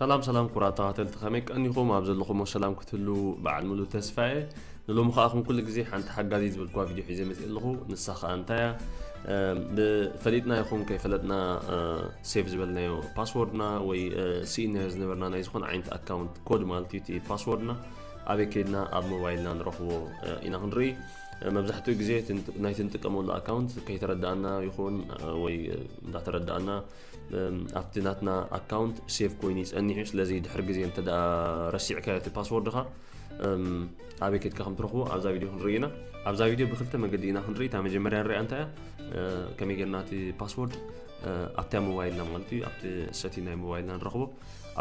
ሰላም ሰላም ኩራት ተኸተልቲ ከመይ ቀኒኹም ኣብ ዘለኹሞ ሰላም ክትህሉ በዓል ሙሉ ተስፋ እየ ንሎሚ ከዓ ከም ኩሉ ግዜ ሓንቲ ሓጋዚ ዝብልኳ ቪድዮ ሒዘ መፅ ኣለኹ ንሳ ከዓ እንታይ እያ ብፈሊጥና ይኹን ከይፈለጥና ሴቭ ዝበልናዮ ፓስወርድና ወይ ስኢናዮ ዝነበርና ናይ ዝኾነ ዓይነት ኣካውንት ኮድ ማለት እዩ እቲ ፓስወርድና ኣበይ ከይድና ኣብ ሞባይልና ንረኽቦ ኢና ክንርኢ መብዛሕትኡ ግዜ ናይቲ ንጥቀመሉ ኣካውንት ከይተረዳእና ይኹን ወይ እንዳተረዳእና ኣብቲ ናትና ኣካውንት ሴቭ ኮይኑ ይፀኒሑ ስለዚ ድሕሪ ግዜ እንተ ረሲዕካዮ እቲ ፓስወርድኻ ኣበይ ከድካ ከም ትረኽቦ ኣብዛ ቪድዮ ክንርኢ ኢና ኣብዛ ቪድዮ ብክልተ መገዲ ኢና ክንርኢ እታ መጀመርያ ንሪኣ እንታይ እያ ከመይ ጌርና እቲ ፓስወርድ ኣብታ ሞባይልና ማለት እዩ ኣብቲ ሰቲ ናይ ሞባይልና ንረኽቦ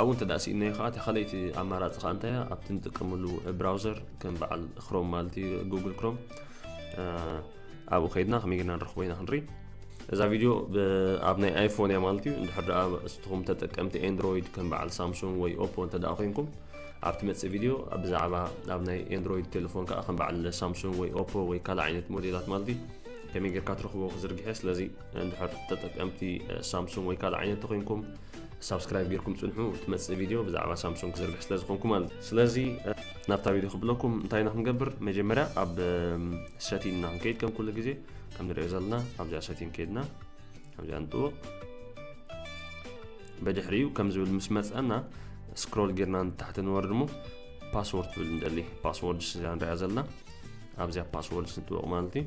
ኣብኡ እንተ ስኢናዮ ከዓ እታ ካልኣይቲ ኣማራፂ ከዓ እንታይ እያ ኣብቲ ንጥቀመሉ ብራውዘር ከም በዓል ክሮም ማለት እዩ ጉግል ክሮም ኣብኡ ከይድና ከመይ ጌርና ንረኽቦ ኢና ክንርኢ እዛ ቪድዮ ኣብ ናይ ኣይፎን እያ ማለት እዩ እንድሕር ደኣ እስትኹም ተጠቀምቲ ኤንድሮይድ ከም በዓል ሳምሱንግ ወይ ኦፖ እንተ ደኣ ኮንኩም ኣብ ትመፅእ ቪድዮ ብዛዕባ ኣብ ናይ ኤንድሮይድ ቴሌፎን ከዓ ከም በዓል ሳምሱንግ ወይ ኦፖ ወይ ካልእ ዓይነት ሞዴላት ማለት እዩ ከመይ ጌርካ ትረኽቦ ክዝርግሐ ስለዚ እንድሕር ተጠቀምቲ ሳምሱንግ ወይ ካልእ ዓይነት ተኮይንኩም ሳብስክራይብ ጌርኩም ጽንሑ ትመጽእ ቪድዮ ብዛዕባ ሳምሶንግ ክዘርግሕ ስለ ዝኾንኩ ማለት ስለዚ ናብታ ቪድዮ ክብለኩም እንታይ ኢና ክንገብር መጀመርያ ኣብ ሰቲን ኢና ክንከይድ ከም ኩሉ ግዜ ከም ንሪኦ ዘለና ኣብዚኣ ሰቲን ከይድና ኣብዚኣ ንጥውቕ በድሕሪኡ ከም ዝብል ምስ መፀና ስክሮል ጌርና ንታሕቲ ንወርድ እሞ ፓስወርድ ትብል ንደሊ ፓስወርድ ስዛ ንሪኣ ዘለና ኣብዚኣ ፓስወርድ ስንጥወቕ ማለት እዩ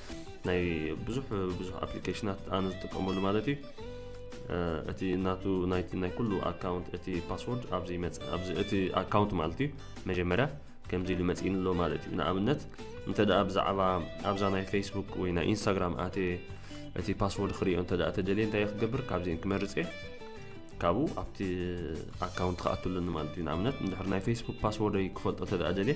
ናይ ብዙሕ ብዙሕ ኣፕሊኬሽናት ኣነ ዝጥቀመሉ ማለት እዩ እቲ እናቱ ናይቲ ናይ ኩሉ ኣካውንት እቲ ፓስወርድ ኣብዚ ይመፅ ኣብዚ እቲ ኣካውንት ማለት እዩ መጀመርያ ከምዚ ኢሉ መፂእኒ ኣሎ ማለት እዩ ንኣብነት እንተ ደኣ ብዛዕባ ኣብዛ ናይ ፌስቡክ ወይ ናይ ኢንስታግራም ኣተ እቲ ፓስወርድ ክሪኦ እንተ ደኣ ተደልየ እንታይ ክገብር ካብዚን ክመርፅ እየ ካብኡ ኣብቲ ኣካውንት ክኣትሉኒ ማለት እዩ ንኣብነት እንድሕር ናይ ፌስቡክ ፓስወርደይ ክፈልጦ እንተ ደኣ ደልየ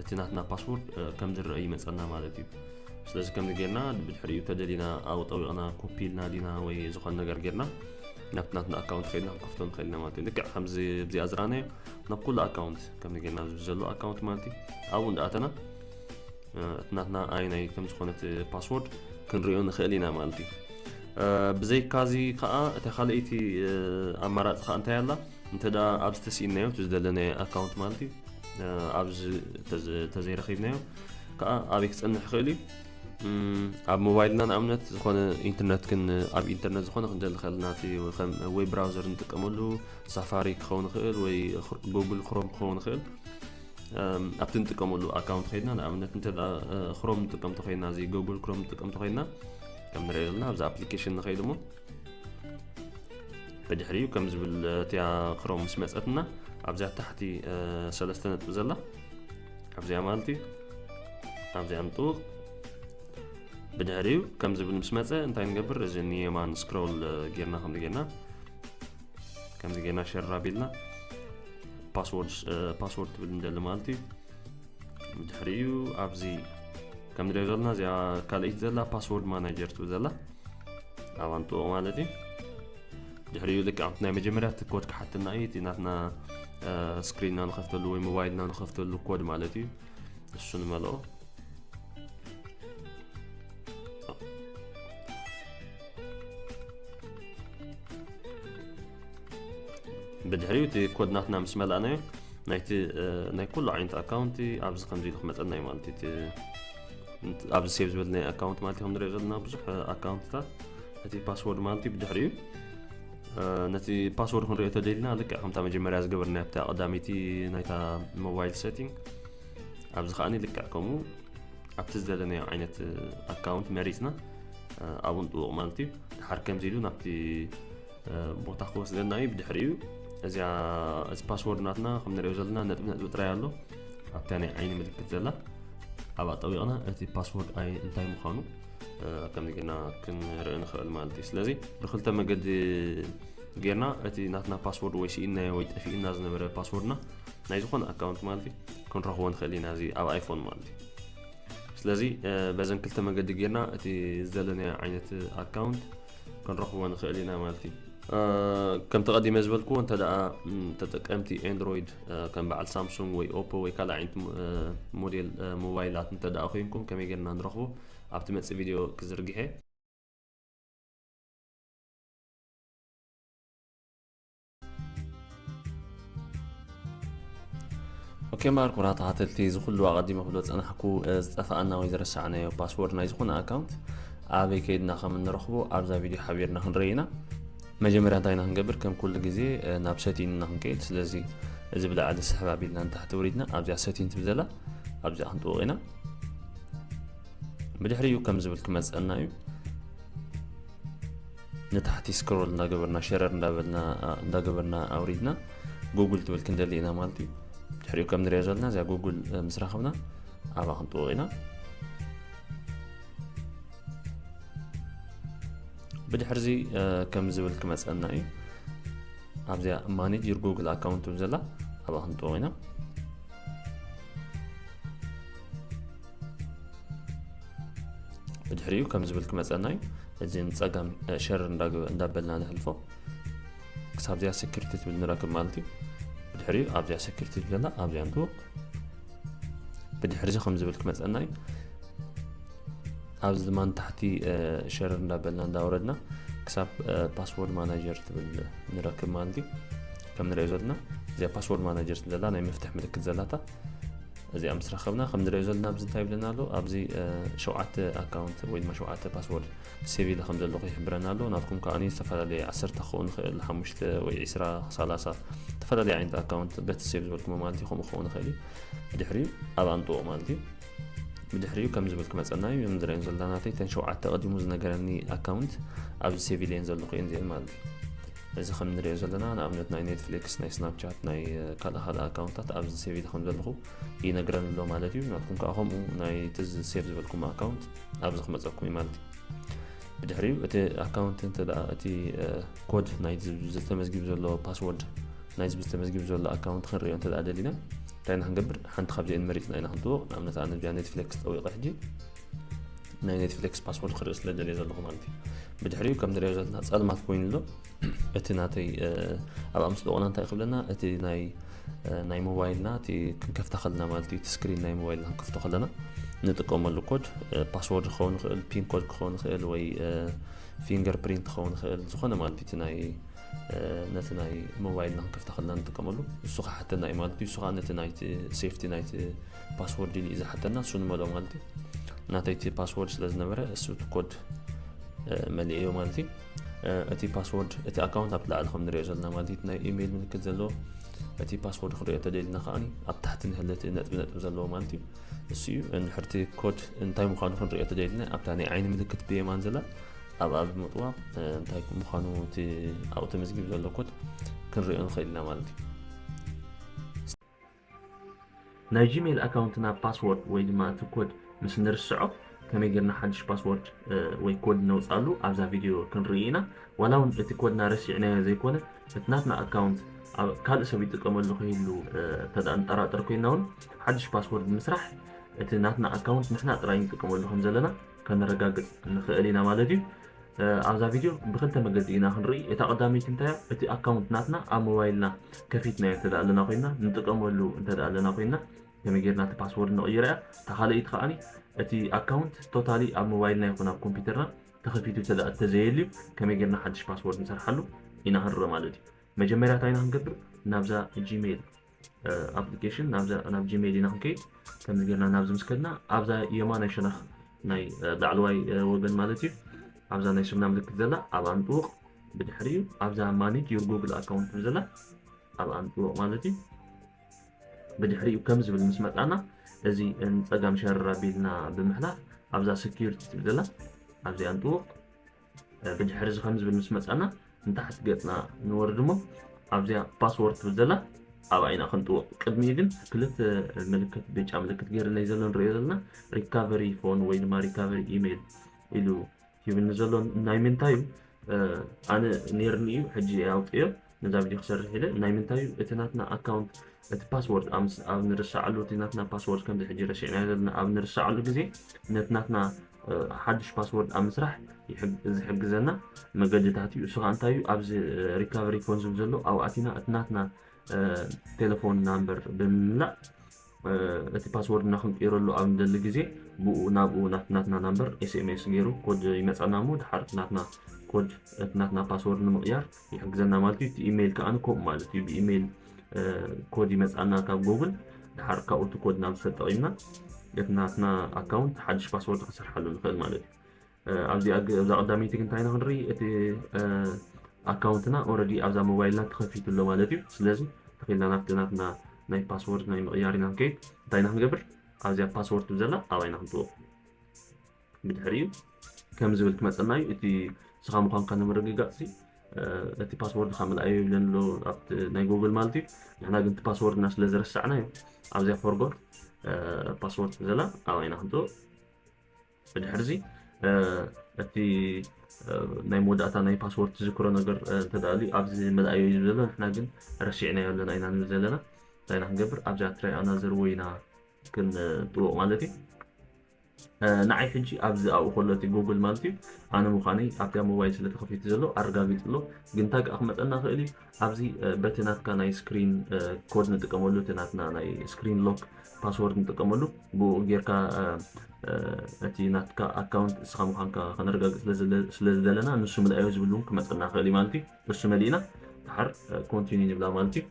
እቲ ናትና ፓስወርድ ከም ዝረአ ይመፀና ማለት እዩ ስለዚ ከምዚ ጌርና ብድሕሪኡ ተደሊና ኣብ ጠቢቕና ኮፒ ኢልና ዲና ወይ ዝኾነ ነገር ጌርና ናብቲ ናትና ኣካውንት ከድና ክንከፍቶ ንኽእል ኢና ማለት እዩ ልክዕ ከምዚ ብዚኣ ዝረኣናዮ ናብ ኩሉ ኣካውንት ከምዚ ጌርና ዘሎ ኣካውንት ማለት እዩ ኣብኡ እንዳኣተና እቲ ናትና ኣይናይ ከም ዝኾነት ፓስወርድ ክንሪኦ ንኽእል ኢና ማለት እዩ ብዘይካዚ ከዓ እታ ካልኣይቲ ኣማራፂ ከዓ እንታይ ኣላ እንተ ኣብዚ ተስኢንናዮ እቲ ዝደለናዮ ኣካውንት ማለት እዩ ኣብዚ ተዘይረኺብናዮ ከዓ ኣበይ ክፀንሕ ይኽእል እዩ ኣብ ሞባይልና ንኣብነት ዝኾነ ኢንተርነት ክን ኣብ ኢንተርነት ዝኾነ ክንደሊ ከለና እቲ ከም ወይ ብራውዘር ንጥቀመሉ ሳፋሪ ክኸውን ይኽእል ወይ ጉግል ክሮም ክኸውን ይኽእል ኣብቲ ንጥቀመሉ ኣካውንት ኮይና ንኣብነት እንተ ክሮም ንጥቀም ተኮይና እዚ ጉግል ክሮም ንጥቀም ተኮይና ከም ንሪኦ ዘለና ኣብዚ ኣፕሊኬሽን ንኸይድ እሞ ብድሕሪኡ ከም ዝብል እቲያ ክሮም ምስ መፀትና ኣብዚኣ ታሕቲ ሰለስተ ነጥቢ ዘላ ኣብዚኣ ማለት እዩ ኣብዚኣ ንጥውቕ ብድሕሪኡ ከም ዝብል ምስ መፀ እንታይ ንገብር እዚ ንየማን ስክሮል ጌርና ከምዚ ጌርና ከምዚ ጌርና ሸራ ቢልና ፓስወርድ ትብል ንደሊ ማለት እዩ ብድሕሪኡ ኣብዚ ከም ንሪኦ ዘለና እዚኣ ካልኣይቲ ዘላ ፓስወርድ ማናጀር ትብል ዘላ ኣብ ኣንጥኡ ማለት እዩ ድሕሪኡ ልክዕ ኣብቲ ናይ መጀመርያ እቲ ኮድ ክሓትና እዩ እቲ ናትና ስክሪንና ንኸፍተሉ ወይ ሞባይልና ንኸፍተሉ ኮድ ማለት እዩ እሱ ንመልኦ ብድሕሪኡ እቲ ኮድ ናትና ምስ መላእናዮ ናይቲ ናይ ኩሉ ዓይነት ኣካውንቲ ኣብዚ ከምዚ ኢሉ ክመፀና እዩ ማለት እዩ ኣብዚ ሴቭ ዝበል ናይ ኣካውንት ማለት ከም ንሪኦ ዘለና ብዙሕ ኣካውንትታት ነቲ ፓስወርድ ማለት እዩ ብድሕሪኡ ነቲ ፓስወርድ ክንሪኦ ተደልና ልክዕ ከምታ መጀመርያ ዝገበርና ኣብታ ቀዳመይቲ ናይታ ሞባይል ሴቲንግ ኣብዚ ከዓ ልክዕ ከምኡ ኣብቲ ዝደለናዮ ዓይነት ኣካውንት መሪፅና ኣብኡ ንጥውቕ ማለት እዩ ድሓር ከምዚ ኢሉ ናብቲ ቦታ ክወስደና እዩ ብድሕሪኡ እዚኣ እዚ ፓስወርድ ናትና ከም ንሪኦ ዘለና ነጥቢ ነጥቢ ጥራይ ኣሎ ኣብታ ናይ ዓይኒ ምልክት ዘላ ኣብ ኣጠቢቕና እቲ ፓስወርድ ኣይ እንታይ ምዃኑ ከምዚ ግና ክንርኢ ንኽእል ማለት እዩ ስለዚ ብክልተ መገዲ ጌርና እቲ ናትና ፓስወርድ ወይ ስኢና ወይ ጠፊእና ዝነበረ ፓስወርድና ናይ ዝኾነ ኣካውንት ማለት እዩ ክንረኽቦ ንኽእል ኢና እዚ ኣብ ኣይፎን ማለት እዩ ስለዚ በዘን ክልተ መገዲ ጌርና እቲ ዘለናዮ ዓይነት ኣካውንት ክንረኽቦ ንኽእል ኢና ማለት እዩ ከምቲ ቀዲመ ዝበልክዎ እንተ ተጠቀምቲ ኤንድሮይድ ከም በዓል ሳምሱንግ ወይ ኦፖ ወይ ካልእ ዓይነት ሞዴል ሞባይላት እንተ ኮንኩም ከመይ ጌርና ንረኽቦ ኣብቲ መፅእ ቪድዮ ክዝርግሐ ኦኬ ማርኮራ ተኸተልቲ እዚ ኩሉ ኣቐዲመ ክብሎ ፀናሕኩ ዝጠፋኣና ወይ ዝረሳዕናዮ ፓስወርድ ናይ ዝኾነ ኣካውንት ኣበይ ከይድና ከም እንረኽቦ ኣብዛ ቪድዮ ሓቢርና ክንርኢ ኢና መጀመርያ እንታይ ኢና ክንገብር ከም ኩሉ ግዜ ናብ ሰቲን እና ክንከይድ ስለዚ እዚ ብላዕሊ ስሕብ ኣቢልና ንታሕቲ ውሪድና ኣብዚኣ ሰቲን ትብል ዘላ ኣብዚኣ ክንጥውቕ ኢና ብድሕሪኡ ከም ዝብል ክመፀና እዩ ንታሕቲ ስክሮል እንዳገበርና ሸረር እንዳገበርና ኣውሪድና ጉግል ትብል ክንደሊ ኢና ማለት እዩ ድሕሪኡ ከም ንሪኦ ዘለና እዚኣ ጉግል ምስ ረኸብና ኣብኣ ክንጥወቕ ኢና ብድሕርዚ ከም ዝብል ክመፀና እዩ ኣብዚኣ ማኔጅር ጉግል ኣካውንት ዘላ ኣብኣ ክንጥወቕ ኢና ብድሕሪኡ ከም ዝብል ክመፀና እዩ እዚ ንፀጋም ሸር እንዳበልና ንሕልፎ ክሳብ እዚኣ ሴኪሪቲ ትብል ንረክብ ማለት እዩ ብድሕሪኡ ኣብዚኣ ሴኪሪቲ ዘለና ኣብዚኣ ንትውቕ ብድሕሪዚ ከም ዝብል ክመፀና እዩ ኣብዚ ድማ ንታሕቲ ሸር እንዳበልና እንዳወረድና ክሳብ ፓስወርድ ማናጀር ትብል ንረክብ ማለት እዩ ከም ንሪኦ ዘለና እዚኣ ፓስወርድ ማናጀር ዘላ ናይ መፍትሕ ምልክት ዘላታ እዚኣ ምስ ረኸብና ከም ንሪኦ ዘለና ኣብዚ እንታይ ይብለና ኣሎ ኣብዚ ሸውዓተ ኣካውንት ወይ ድማ ሸውዓተ ፓስወርድ ሴቭ ኢለ ከም ዘለኹ ይሕብረና ኣሎ ናትኩም ከዓ ዝተፈላለየ ዓሰርተ ክኸውን ይኽእል ሓሙሽተ ወይ ዒስራ ሰላሳ ዝተፈላለየ ዓይነት ኣካውንት በቲ ሴቭ ዝበልክሞ ማለት እዩ ከምኡ ክኸውን ይኽእል እዩ ብድሕሪኡ ኣብ ኣምጥኦ ማለት እዩ ብድሕሪኡ ከም ዝብል ክመፀና እዩ እዞም ዝረአዮም ዘለና ናተይ እተን ሸውዓተ ቀዲሙ ዝነገረኒ ኣካውንት ኣብዚ ሴቭ ኢለየን ዘለኹ እየን እዚአን ማለት እዩ እዚ ከም ንሪኦ ዘለና ንኣብነት ናይ ኔትፍሊክስ ናይ ስናፕቻት ናይ ካልእ ካልእ ኣካውንታት ኣብዚ ሴቭ ኢለ ከም ዘለኹ ይነግረን ኣሎ ማለት እዩ ናትኩም ከዓ ከምኡ ናይ እቲ ሴቭ ዝበልኩም ኣካውንት ኣብዚ ክመፀኩም እዩ ማለት እዩ ብድሕሪኡ እቲ ኣካውንት እንተ እቲ ኮድ ናይ ዝተመዝጊቡ ዘሎ ፓስወርድ ናይ ዝብ ዝተመዝጊቡ ዘሎ ኣካውንት ክንሪኦ እንተ ደሊና እንታይ ኢና ክንገብር ሓንቲ ካብዚአን መሪፅና ኢና ክንትዎ ንኣብነት ኣነ ጃ ኔትፍሌክስ ጠዊቐ ሕጂ ናይ ኔትፍሊክስ ፓስወርድ ክርኢ ስለ ደልየ ዘለኹ ማለት እዩ ብድሕሪኡ ከም ንሪኦ ዘለና ፀልማት ኮይኑ ኣሎ እቲ ናተይ ኣብ ኣምስ ደቆና እንታይ ክብለና እቲ ናይ ናይ ሞባይልና እቲ ክንከፍታ ከለና ማለት እዩ እቲ ስክሪን ናይ ሞባይልና ክንከፍቶ ከለና ንጥቀመሉ ኮድ ፓስወርድ ክኸውን ይኽእል ፒን ኮድ ክኸውን ይኽእል ወይ ፊንገር ፕሪንት ክኸውን ይኽእል ዝኾነ ማለት እዩ ናይ ነቲ ናይ ሞባይልና ክንከፍታ ከለና ንጥቀመሉ እሱ ክሓተና እዩ ማለት እዩ እሱ ከዓ ነቲ ናይቲ ሴፍቲ ናይቲ ፓስወርድ እዩ ዝሓተና እሱ ንመልኦ ማለት እዩ ናተይ እቲ ፓስወርድ ስለ ዝነበረ እሱ እቲ ኮድ መሊእ እዮ ማለት እዩ እቲ ፓስወርድ እቲ ኣካውንት ኣብ ላዕሊ ከም ንሪኦ ዘለና ማለት እዩ ናይ ኢሜይል ምልክት ዘለዎ እቲ ፓስወርድ ክሪኦ ተደልና ከዓ ኣብ ታሕቲ ንህለት ነጥቢ ነጥቢ ዘለዎ ማለት እዩ እሱ እዩ ንሕርቲ ኮድ እንታይ ምኳኑ ክንሪኦ ተደልና ኣብታ ናይ ዓይኒ ምልክት ብየማን ዘላ ኣብኣ ብምጥዋ እንታይ ምኳኑ እቲ ኣብኡ ተመዝጊብ ዘሎ ኮድ ክንሪኦ ንኽእል ኢና ማለት እዩ ናይ ጂሜል ኣካውንትና ፓስዎርድ ወይ ድማ እቲ ኮድ ምስ ንርስዖ ከመይ ጌርና ሓድሽ ፓስዎርድ ወይ ኮድ ነውፃሉ ኣብዛ ቪድዮ ክንርኢ ኢና ዋላ እውን እቲ ኮድና ረሲዕናዮ ዘይኮነ እቲ ናትና ኣካውንት ካልእ ሰብ ይጥቀመሉ ክህሉ ተደኣ ንጠራጠር ኮይና እውን ሓድሽ ፓስወርድ ምስራሕ እቲ ናትና ኣካውንት ንሕና ጥራይ ንጥቀመሉ ከም ዘለና ከነረጋግፅ ንኽእል ኢና ማለት እዩ ኣብዛ ቪድዮ ብክልተ መገዲ ኢና ክንርኢ እታ ቀዳመይቲ እንታይ እያ እቲ ኣካውንት ናትና ኣብ ሞባይልና ከፊትናዮ እንተ ኣለና ኮይና ንጥቀመሉ እንተ ኣለና ኮይና ከመይ ጌርና እቲ ፓስወርድ ንቕይራ እያ እታ ካልኣይቲ ከዓኒ እቲ ኣካውንት ቶታሊ ኣብ ሞባይልና ይኹን ኣብ ኮምፒውተርና ተኸፊቱ እተ እተዘየልዩ ከመይ ጌርና ሓድሽ ፓስወርድ ንሰርሓሉ ኢና ክንርኢ ማለት እዩ መጀመርያ እንታይ ኢና ክንገብር ናብዛ ጂሜይል ኣፕሊኬሽን ናብ ጂሜል ኢና ክንከይድ ከምዚ ጌርና ናብዚ ምስ ከድና ኣብዛ የማናይ ሸነኽ ናይ ላዕለዋይ ወገን ማለት እዩ ኣብዛ ናይ ስምና ምልክት ዘላ ኣብ ኣንጥውቕ ብድሕሪ እዩ ኣብዛ ማኔጅ ዩር ጉግል ኣካውንት ብዘላ ኣብ ኣንጥውቕ ማለት እዩ ብድሕሪ እዩ ከም ዝብል ምስ መጣና እዚ ንፀጋም ሸረራ ቢልና ብምሕላፍ ኣብዛ ሴኪሪቲ ትብል ዘላ ኣብዚ ኣንጥውቕ ብድሕሪ እዚ ከም ዝብል ምስ መጻና ንታሕቲ ገጽና ንወርድ እሞ ኣብዚኣ ፓስወርድ ትብል ዘላ ኣብኣ ኢና ክንጥውቕ ቅድሚኡ ግን ክልተ ምልክት ብጫ ምልክት ገይርለይ ዘሎ ንሪኦ ዘለና ሪካቨሪ ፎን ወይ ድማ ሪካቨሪ ኢሜይል ኢሉ ሂብኒ ዘሎ ናይ ምንታይ እዩ ኣነ ነይርኒ እዩ ሕጂ ኣውፅዮ ነዛ ቪድዮ ክሰርሕ ኢለ ናይ ምንታይ እዩ እቲ ናትና ኣካውንት እቲ ፓስዎርድ ኣምስ ኣብ ንርሳዓሉ እቲ ናትና ፓስዎርድ ከምዚ ሕጂ ረሲዕናዮ ዘለና ኣብ ንርሳዓሉ ግዜ ነቲ ናትና ሓድሽ ፓስዎርድ ኣብ ምስራሕ ዝሕግዘና መገድታት እዩ እሱ ከዓ እንታይ እዩ ኣብዚ ሪካቨሪ ፎን ዝብል ዘሎ ኣብኣቲና እቲ ናትና ቴሌፎን ናምበር ብምምላእ እቲ ፓስዎርድና ክንቅይረሉ ኣብ ንደሊ ግዜ ብኡ ናብኡ ናብቲ ናትና ናምበር ኤስኤምኤስ ገይሩ ኮድ ይመጸና እሞ ድሓር እቲ ናትና ኮድ እቲ ናትና ፓስዎርድ ንምቕያር ይሕግዘና ማለት እዩ። እቲ ኢሜይል ከኣ ከምኡ ማለት እዩ ብኢሜይል ኮድ ይመጽኣና ካብ ጎግል ድሓር ካብኡ እቲ ኮድ ናብ ዝተጠቒምና እቲ ናትና ኣካውንት ሓድሽ ፓስዎርድ ክንሰርሓሉ ንኽእል ማለት እዩ። ኣብዚኣ ኣብዛ ቀዳመይቲ ግን እንታይ ኢና ክንርኢ እቲ ኣካውንትና ኦረዲ ኣብዛ ሞባይልና ተኸፊቱ ኣሎ ማለት እዩ ስለዚ ተኺልና ናብቲ ናትና ናይ ፓስወርድ ናይ ምቕያር ኢና ንከይድ እንታይ ኢና ክንገብር ኣብዚኣ ፓስወርድ ትብ ዘላ ኣብኣ ኢና ክንጥወ ብድሕሪ እዩ ከም ዝብል ክመፀና እዩ እቲ ስኻ ምዃንካ ንምርግጋፅ እቲ ፓስወርድ ካብ ምልኣዮ ይብለን ኣሎ ኣብቲ ናይ ጎግል ማለት እዩ ንሕና ግን እቲ ፓስወርድና ስለ ዝረሳዕና እዩ ኣብዚኣ ፎርጎት ፓስወርድ ዘላ ኣብኣ ኢና ክንጥወ ብድሕርዚ እቲ ናይ መወዳእታ ናይ ፓስወርድ ትዝክሮ ነገር እንተደኣልዩ ኣብዚ መላእዮ እዩ ዘሎ ንሕና ግን ረሲዕናዮ ኣለና ኢና ንብል ዘለና እንታይ ኢና ክንገብር ኣብዚኣ ትራይ ኣናዘር ወይ ኢና ክንጥውቕ ማለት እዩ ንዓይ ሕጂ ኣብዚ ኣብኡ ከሎ እቲ ጉግል ማለት እዩ ኣነ ምዃነይ ኣብቲኣ ሞባይል ስለ ተኸፊቱ ዘሎ ኣረጋጊፅ ኣሎ ግን እንታይ ከዓ ክመፀና ክእል እዩ ኣብዚ በቲ ናትካ ናይ ስክሪን ኮድ ንጥቀመሉ እቲ ናትና ናይ ስክሪን ሎክ ፓስወርድ ንጥቀመሉ ብኡ ጌርካ እቲ ናትካ ኣካውንት እስኻ ምዃንካ ከነረጋግፅ ስለ ዝደለና ንሱ ምልኣዮ ዝብል እውን ክመፀና ክእል እዩ ማለት እዩ እሱ መሊእና ድሓር ኮንቲኒ ንብላ ማለት እዩ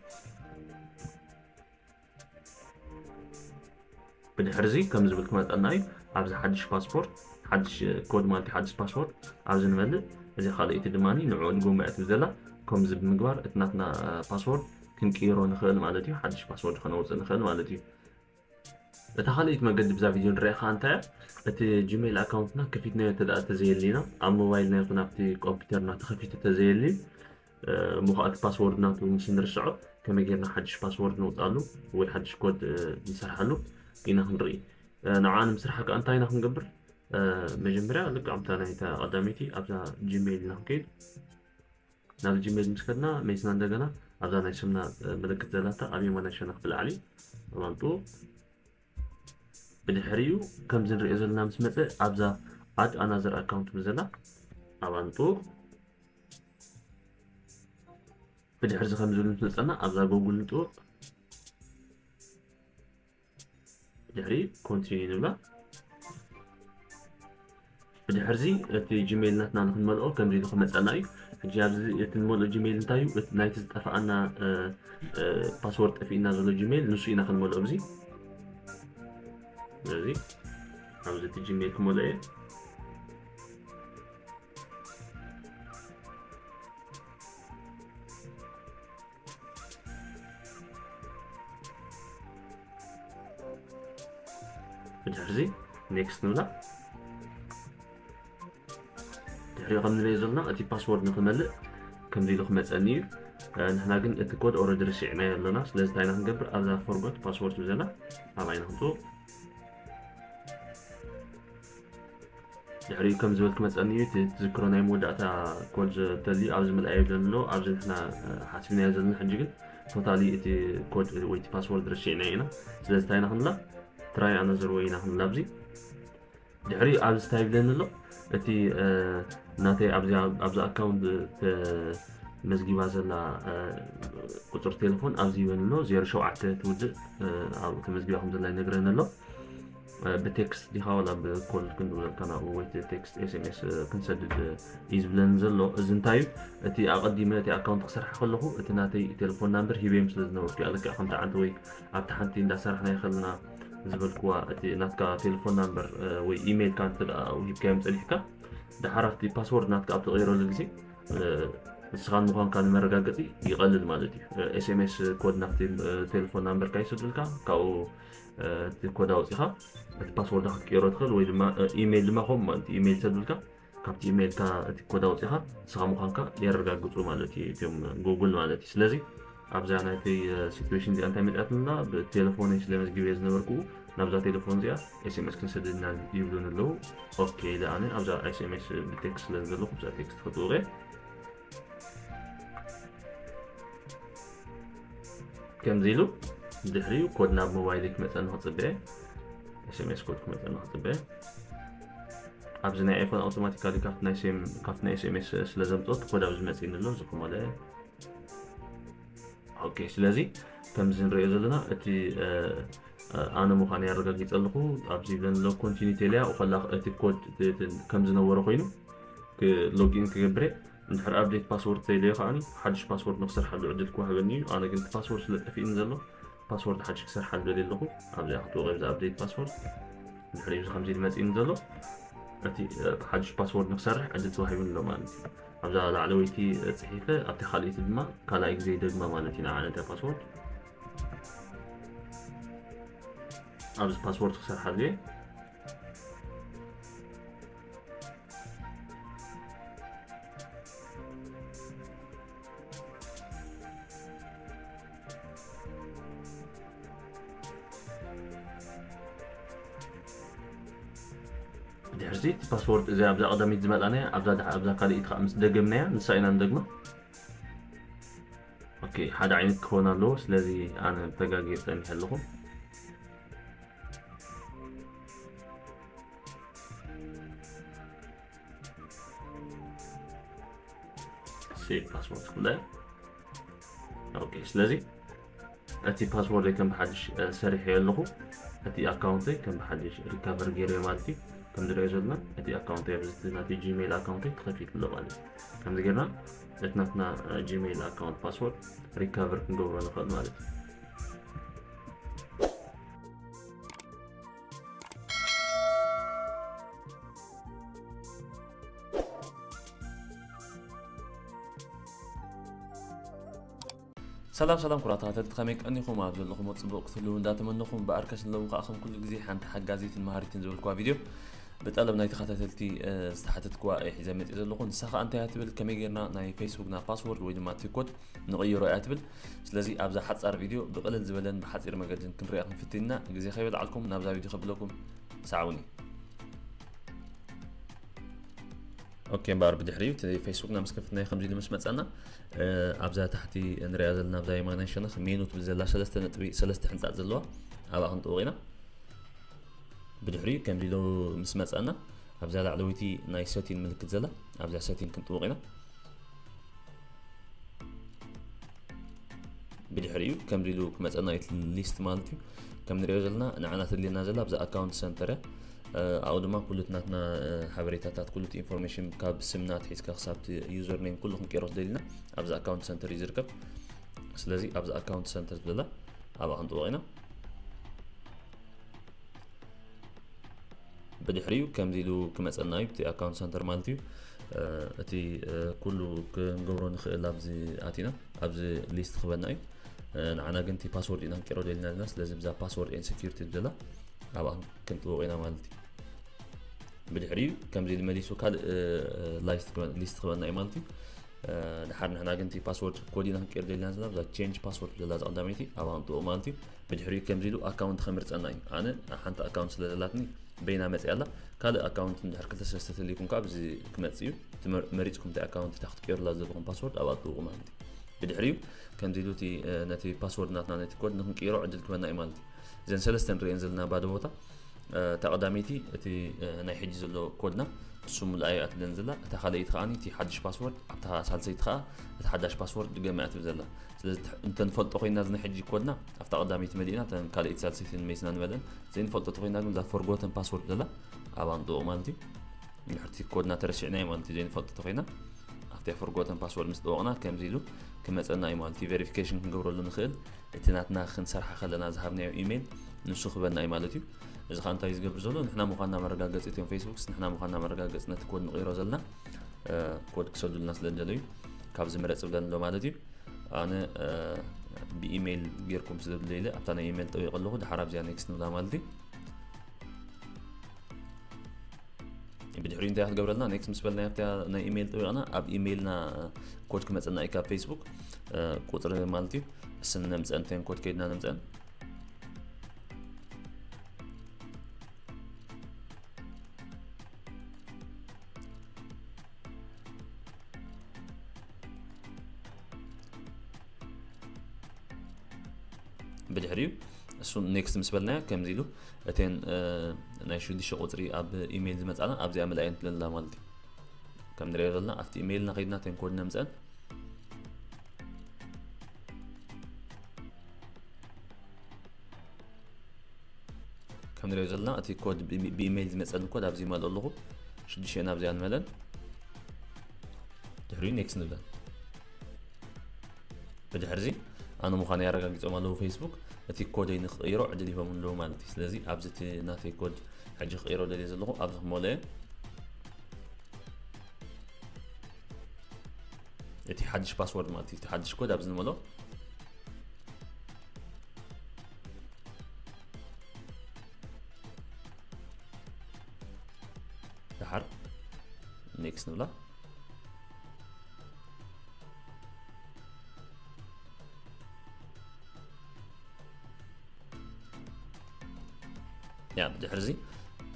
ብድሕርዚ ከምዚ ዝብል ክመፀና እዩ ኣብዚ ሓድሽ ፓስፖርት ሓድሽ ኮድ ማለት ሓድሽ ፓስፖርት ኣብዚ ንመልእ እዚ ካልኦይቲ ድማ ንዕኡ ድጎማ እያ ትብል ዘላ ከምዚ ብምግባር እቲ ናትና ፓስወርድ ክንቅይሮ ንኽእል ማለት እዩ ሓድሽ ፓስወርድ ከነውፅእ ንኽእል ማለት እዩ እታ ካልኦይቲ መገዲ ብዛ ቪድዮ ንሪኣ ከዓ እንታይ እያ እቲ ጂሜይል ኣካውንትና ከፊትናዮ እንተ ተዘየሊና ኣብ ሞባይልና ይኹን ኣብቲ ኮምፒተርና ተኸፊቱ ተዘየሊ እሞ ኸኣ እቲ ፓስዎርድ ናቱ ምስ እንርስዖ ከመይ ጌርና ሓድሽ ፓስዎርድ ነውጽኣሉ ወይ ሓድሽ ኮድ ንሰርሓሉ ኢና ክንርኢ። ንዓኣ ንምስርሓ ከኣ እንታይ ኢና ክንገብር መጀመርያ ልክዕ ኣብታ ናይታ ቀዳመይቲ ኣብዛ ጂሜይል ኢና ክንከይድ ናብ ጂሜል ምስ ከድና መይስና እንደገና ኣብዛ ናይ ስምና ምልክት ዘላታ ኣብ የማናይ ሸነኽ ብላዕሊ ኣማምጡ ብድሕሪኡ ከምዚ ንሪኦ ዘለና ምስ መፀ ኣብዛ ኣድ ኣናዘር ኣካውንት ብዘላ ኣባምጡ ብድሕሪ እዚ ከምዚ ኢሉ ምስ መፀና ኣብዛ ጎግል ንጥውቕ ድሕሪ ኮንቲኒ ንብላ ብድሕርዚ እቲ ጂሜይል ናትና ንክንመልኦ ከምዚ ኢሉ ክመፀና እዩ ሕጂ ኣብዚ እቲ ንመልኦ ጂሜይል እንታይ እዩ ናይቲ ዝጠፍኣና ፓስወርድ ጠፊእና ዘሎ ጂሜይል ንሱ ኢና ክንመልኦ ብዚ ስለዚ ኣብዚ እቲ ጂሜይል ክመልኦ እየ ብድሕርዚ ኔክስት ንብላ ድሕሪኡ ከም ንበየ ዘሎና እቲ ፓስወርድ ንክመልእ ከምዚ ኢሉ ክመፀኒ እዩ ንሕና ግን እቲ ኮድ ኦረዲ ርሲዕናዮ ኣለና ስለዚ እንታይ ኢና ክንገብር ኣብዛ ፎርጎት ፓስወርድ ዘላ ኣብኣ ኢና ክንትዎ ድሕሪኡ ከም ዝበል ክመፀኒ እዩ እቲ ትዝክሮ ናይ መወዳእታ ኮድ ተልዩ ኣብዚ ምልኣዮ ዘሎ ኣብዚ ንሕና ሓሲብናዮ ዘለና ሕጂ ግን ቶታሊ እቲ ኮድ ወይ እቲ ፓስወርድ ረሲዕናዮ ኢና ስለዚ እንታይ ኢና ክንብላ ትራይ ኣናዘር ወይ ኢና ክንብላ ኣብዚ ድሕሪኡ ኣብዚ እንታይ ይብለኒ ኣሎ እቲ ናተይ ኣብዚ ኣካውንት መዝጊባ ዘላ ቁፅሪ ቴሌፎን ኣብዚ ይበኒ ኣሎ 07 ትውድእ ተመዝጊባ ከም ዘላ ይነግረኒ ኣሎ ብቴክስት ዲኻ ዋላ ብኮል ክንድውለልካ ናብኡ ወይ ቴክስት ኤስኤምኤስ ክንሰድድ እዩ ዝብለኒ ዘሎ እዚ እንታይ እዩ እቲ ኣቐዲመ እቲ ኣካውንት ክሰርሓ ከለኹ እቲ ናተይ ቴሌፎን ናምበር ሂበዮም ስለ ዝነበርኩ እያ ልክዕ ከምቲ ዓንተ ወይ ኣብቲ ሓንቲ እንዳሰራሕና ይኸልና ዝበልክዋ እቲ ናትካ ቴሌፎን ናምበር ወይ ኢሜይልካ እንተ ሂብካዮም ፀኒሕካ ድሓር ኣብቲ ፓስወርድ ናትካ ኣብ ተቐይረሉ ግዜ ንስኻን ምዃንካ ንመረጋገፂ ይቐልል ማለት እዩ ኤስኤምኤስ ኮድ ናብቲ ቴሌፎን ናምበርካ ይስዱልካ ካብኡ እቲ ኮድ ኣውፂኻ እቲ ፓስወርድ ክትቀይሮ ትኽእል ወይ ድማ ኢሜይል ድማ ከምኡ ማለት እዩ ኢሜይል ሰዱልካ ካብቲ ኢሜይልካ እቲ ኮድ ኣውፂኻ ንስኻ ምዃንካ የረጋግፁ ማለት እዩ እትም ጉግል ማለት እዩ ስለዚ ኣብዛ ናይተይ ሲትዌሽን እዚኣ እንታይ መፅኣትና ብቴሌፎነይ ስለመዝግብየ ዝነበርኩ ናብዛ ቴሌፎን እዚኣ ኤስኤምኤስ ክንሰደድና ይብሉን ኣለዉ ኦኬ ኢለ ኣነ ኣብዛ ኤስኤምኤስ ብቴክስት ስለ ዘለኹ ብዛ ቴክስት ክጥውቀ ከምዚ ኢሉ ድሕሪኡ ኮድ ናብ ሞባይል ክመፀኒ ክፅበየ ኤስኤምኤስ ኮድ ክመፀኒ ክፅበየ ኣብዚ ናይ ኣይፎን ኣውቶማቲካሊ ካብቲ ናይ ኤስኤምኤስ ስለ ዘምፅኦት ኮድ ኣብዚ መፅኒ ኣሎ እዚ ክመለ ኦኬ ስለዚ ከምዚ ንሪኦ ዘለና እቲ ኣነ ምዃኑ ያረጋጊፀ ኣለኹ ኣብዚ ዘንሎ ኮንቲኒ ቴልያ ከላ እቲ ኮድ ከም ዝነበረ ኮይኑ ሎጊን ክገብረ እንድሕር ኣብዴት ፓስወርድ ተይለዮ ከዓኒ ሓድሽ ፓስወርድ ንክሰርሓሉ ዕድል ክዋህበኒ እዩ ኣነ ግን ፓስወርድ ስለ ጠፊእኒ ዘሎ ፓስወርድ ሓድሽ ክሰርሓሉ ደልየ ኣለኹ ኣብዚኣ ክትወቂም ዝኣብዴት ፓስወርድ እንድሕር እዩ ከምዚ ኢሉ መፂእኒ ዘሎ እቲ ሓድሽ ፓስወርድ ንክሰርሕ ዕድል ተዋሂቡኒ ኣሎ ማለት እዩ ኣብዛ ላዕለወይቲ ፅሒፈ ኣብቲ ካልእቲ ድማ ካልኣይ ግዜ ደግማ ማለት እዩ ንዓነት እያ ፓስወርድ ኣብዚ ፓስወርድ ክሰርሓሉ እየ ድሕርዚ እቲ ፓስወርድ እዚ ኣብዛ ቀዳሚት ዝመጣናያ ኣብዛ ኣብዛ ካልኢት ከዓ ምስ ደገምናያ ንሳ ኢና ንደግማ ኦኬ ሓደ ዓይነት ክኾን ኣለዎ ስለዚ ኣነ ተጋጊየ ፀኒሐ ኣለኹ ሴቭ ፓስወርድ ክላይ ኦኬ ስለዚ እቲ ፓስወርደይ ከም ብሓድሽ ሰሪሐዮ ኣለኹ እቲ ኣካውንተይ ከም ብሓድሽ ሪካቨር ገይረዮ ማለት እዩ ከም ዝሪኦ ዘለና እቲ ኣካውንተይ ኣብዝቲ ናቲ ጂሜይል ኣካውንተይ ተኸፊት ኣሎ ማለት እዩ ከምዚ ጌርና እቲ ናትና ጂሜይል ኣካውንት ፓስወርድ ሪካቨር ክንገብሮ ንኽእል ማለት እዩ ሰላም ሰላም ኩራት ተኸተልቲ ከመይ ቀኒኹም ኣብ ዘለኹም ፅቡቅ ክትህልው እንዳተመነኹም በኣር ከስንለዉ ከዓ ከም ኩሉ ግዜ ሓንቲ ሓጋዚትን መሃሪትን ዝበልክዋ ቪድዮ ብጠለብ ናይ ተኸታተልቲ ዝተሓተትክዋ እየ ሒዘ መፅእ ዘለኹ ንሳ ከዓ እንታይ እያ ትብል ከመይ ጌርና ናይ ፌስቡክና ፓስወርድ ወይ ድማ ቲኮድ ንቕይሮ እያ ትብል ስለዚ ኣብዛ ሓጻር ቪድዮ ብቕልል ዝበለን ብሓጺር መገድን ክንሪኣ ክንፍትን ኢና ግዜ ከይበልዓልኩም ናብዛ ቪድዮ ከብለኩም ሰዓውኒ ኦኬ እምበኣር ብድሕሪ እቲ ፌስቡክና ምስ ከፍትና ከምዚ ኢሉ ምስ መፀና ኣብዛ ታሕቲ ንሪኣ ዘለና ኣብዛ የማናይ ሸነኽ ሜኑ ትብል ዘላ ሰለስተ ነጥቢ ሰለስተ ሕንፃፅ ዘለዋ ኣብኣ ክንጥውቕ ኢና ብድሕሪ ከምዚ ኢሉ ምስ መፀና ኣብዛ ላዕለወይቲ ናይ ሰቲን ምልክት ዘላ ኣብዛ ሰቲን ክንጥውቕ ኢና ብድሕሪኡ ከምዚ ኢሉ ክመፀና እዩ ሊስት ማለት እዩ ከም ንሪኦ ዘለና ንዓና ትድልየና ዘላ ብዛ ኣካውንት ሰንተር ኣብኡ ድማ ኩሉ ናትና ሓበሬታታት ኩሉ ኢንፎርሜሽን ካብ ስምና ትሒዝካ ክሳብ ዩዘር ኔም ኩሉ ክንቀይሮ ትደልና ኣብዚ ኣካውንት ሰንተር እዩ ዝርከብ ስለዚ ኣብዚ ኣካውንት ሰንተር ዝብለላ ኣብኣ ክንጥወቕ ኢና ብድሕሪኡ ከምዚ ኢሉ ክመፀና እዩ ብቲ ኣካውንት ሰንተር ማለት እዩ እቲ ኩሉ ክንገብሮ ንኽእል ኣብዚ ኣቲና ኣብዚ ሊስት ክበና እዩ ንዓና ግን እቲ ፓስወርድ ኢና ክንቀይሮ ደልና ዘለና ስለዚ ብዛ ፓስወርድ ኤን ሴኪሪቲ ዘላ ኣብኣ ክንጥበቆ ኢና ማለት እዩ ብድሕሪኡ ከምዚ ኢሉ መሊሱ ካልእ ሊስት ክበና እዩ ማለት እዩ ድሓር ንሕና ግን እቲ ፓስወርድ ኮድ ኢና ክንቀይር ደልና ዘለና ብዛ ቼንጅ ፓስወርድ ዘላ ዛ ቀዳመይቲ ኣብኣ ክንጥበቆ ማለት እዩ ብድሕሪኡ ከምዚ ኢሉ ኣካውንት ከምርጸና እዩ ኣነ ሓንቲ ኣካውንት ስለ ዘላትኒ በይና መጽያ ኣላ ካልእ ኣካውንት ድሕር ክልተ ሰለስተ ተልይኩም ከዓ ብዚ ክመጽ እዩ እቲ መሪጽኩም እንታይ ኣካውንት እታ ክትቀይሩላ ዘለኹም ፓስወርድ ኣብ ኣጥብቑ ማለት እዩ ብድሕሪኡ ከምዚ ኢሉ እቲ ነቲ ፓስወርድ ናትና ነቲ ኮድ ንክንቅይሮ ዕድል ክበና እዩ ማለት እዩ እዘን ሰለስተ ንርእየን ዘለና ባዶ ቦታ እታ ቀዳመይቲ እቲ ናይ ሕጂ ዘሎ ኮድና ንሱ ሙሉኣ እያ ትብለን ዘላ እታ ካልኣይቲ ከዓኒ እቲ ሓድሽ ፓስወርድ ኣብታ ሳልሰይቲ ከዓ እቲ ሓዳሽ ፓስወርድ ድገመ እያ ትብል ዘላ ስለዚ እንተ ንፈልጦ ኮይና እዚ ናይ ሕጂ ኮድና ኣብታ ቀዳመይቲ መሊእና እተን ካልኣይቲ ሳልሰይትን መይስና ንመለን ዘይንፈልጦ ተኮይና ግን እዛ ፎርጎተን ፓስወርድ ዘላ ኣብ ኣምጥኦ ማለት እዩ ንድሕርቲ ኮድና ተረሲዕና እዩ ማለት እዩ ዘይንፈልጦ ተኮይና ኣብቲ ፎርጎተን ፓስወርድ ምስ ጠወቕና ከምዚ ኢሉ ክመፀና እዩ ማለት እዩ ቬሪፊኬሽን ክንገብረሉ ንኽእል እቲ ናትና ክንሰርሓ ከለና ዝሃብናዮ ኢሜይል ንሱ ክበና እዩ ማለት እዩ እዚ ከዓ እንታይ ዝገብር ዘሎ ንሕና ምዃንና መረጋገፂ እትዮም ፌስቡክስ ንሕና ምዃንና መረጋገፂ ነቲ ኮድ ንቕይሮ ዘለና ኮድ ክሰዱልና ስለ ዝደለዩ ካብዚ ምረፅ ብለን ኣሎ ማለት እዩ ኣነ ብኢሜይል ጌርኩም ስለዘድለየ ኢለ ኣብታ ናይ ኢሜይል ጠቢቀ ኣለኹ ድሓር ኣብዚኣ ኔክስት ንብላ ማለት እዩ ብድሕሪኡ እንታይ ክትገብረልና ኔክስት ምስ በልና ኣብታ ናይ ኢሜይል ጠቢቕና ኣብ ኢሜይልና ኮድ ክመፀና እዩ ካብ ፌስቡክ ቁፅሪ ማለት እዩ ስም ነምፀን ተን ኮድ ከይድና ነምፀን ብድሕሪኡ እሱ ኔክስት ምስ በልናዮ ከምዚ ኢሉ እተን ናይ ሽዱሽተ ቁፅሪ ኣብ ኢሜይል ዝመፃና ኣብዚኣ ምልኣይ እንትለላ ማለት እዩ ከም ንሪኦ ዘለና ኣብቲ ኢሜይልና ከይድና እተን ኮድ ነምፅአን ከም ንሪኦ ዘለና እቲ ኮድ ብኢሜይል ዝመፀኒ ኮድ ኣብዚ ይመልኦ ኣለኹ ሽዱሽተ ናብዚኣ ንመለን ድሕሪኡ ኔክስት ንብለን ብድሕርዚ ኣነ ምዃኑ ኣረጋጊፆም ኣለዉ ፌስቡክ እቲ ኮደይ ንክቕይሮ ዕድል ይቦም ኣለዉ ማለት እዩ ስለዚ ኣብዚ እቲ ናተይ ኮድ ሕጂ ክቕይሮ ደልየ ዘለኹ ኣብዚ ክመልኦ እቲ ሓድሽ ፓስወርድ ማለት እዩ እቲ ሓድሽ ኮድ ኣብዚ ንመሎ ድሓር ኔክስት ንብላ ያ ድሕርዚ